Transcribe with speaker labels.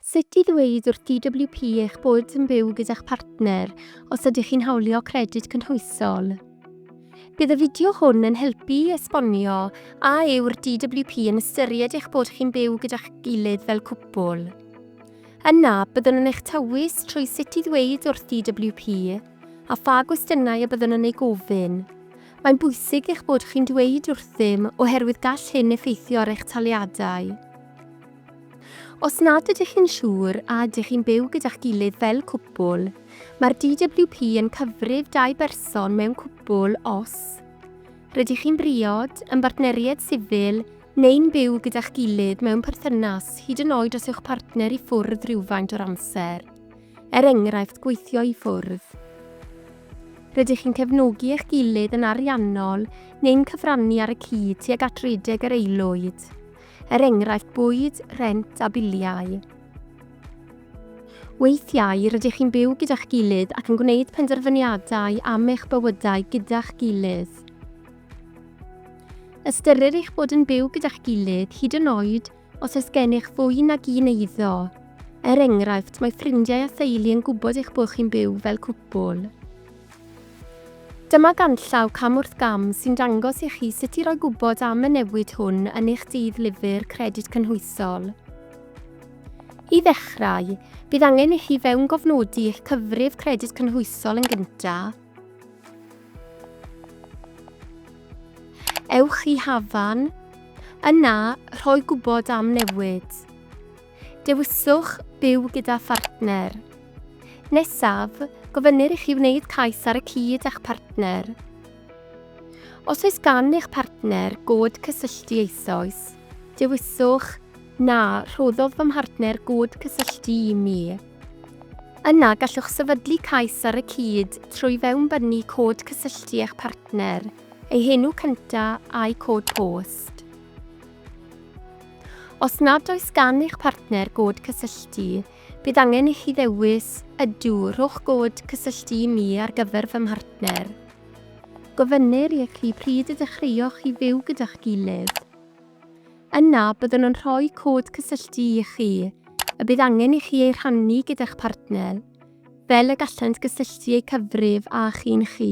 Speaker 1: Sut i ddweud wrth DWP eich bod yn byw gyda'ch partner os ydych chi'n hawlio Credyd Cynhwysol. Bydd y fideo hwn yn helpu i esbonio a yw'r DWP yn ystyried eich bod chi'n byw gyda'ch gilydd fel cwpwl. Yna, byddwn yn eich tywys trwy sut i ddweud wrth DWP a pha gwestiynau y byddwn yn eu gofyn. Mae'n bwysig eich bod chi'n dweud wrthym oherwydd gall hyn effeithio ar eich taliadau. Os nad ydych chi'n siŵr a ydych chi'n byw gyda'ch gilydd fel cwpwl, mae'r DWP yn cyfrif dau berson mewn cwpwl os rydych chi'n briod, yn bartneriaid sifil neu'n byw gyda'ch gilydd mewn perthynas, hyd yn oed os yw'ch partner i ffwrdd rhywfaint o'r amser, er enghraifft gweithio i ffwrdd. Rydych chi'n cefnogi eich gilydd yn ariannol neu'n cyfrannu ar y cyd tuag at redeg yr aelwyd. er enghraifft bwyd, rhent a biliau. Weithiau, rydych chi'n byw gyda'ch gilydd ac yn gwneud penderfyniadau am eich bywydau gyda'ch gilydd. Ystyrir eich bod yn byw gyda'ch gilydd hyd yn oed os oes gennych fwy nag un eiddo. Er enghraifft, mae ffrindiau a theulu yn gwybod eich bod chi'n byw fel cwpwl. Dyma ganllaw cam wrth gam sy'n dangos i chi sut i roi gwybod am y newid hwn yn eich Dydd Lyfr Credyd Cynhwysol. I ddechrau, bydd angen i chi fewngofnodi eich cyfrif Credyd Cynhwysol yn gyntaf. Ewch i Hafan. Yna, rhoi gwybod am newid. dewiswch Byw gyda Phartner. Nesaf, gofynnir i chi wneud cais ar y cyd â'ch partner. Os oes gan eich partner god cysylltu eisoes, dewiswch Na, rhoddodd fy mhartner god cysylltu i mi. Yna, gallwch sefydlu cais ar y cyd trwy fewnbynnu cod cysylltu eich partner, ei henw cyntaf a'u cod post. Os nad oes gan eich partner god cysylltu, bydd angen i chi ddewis Ydw, rhowch god cysylltu i mi ar gyfer fy mhartner. Gofynnir i chi pryd y dechreuoch chi fyw gyda'ch gilydd. Yna, byddwn yn rhoi cod cysylltu i chi, y bydd angen i chi ei rhannu gyda'ch partner, fel y gallant gysylltu eu cyfrif â chi'n chi.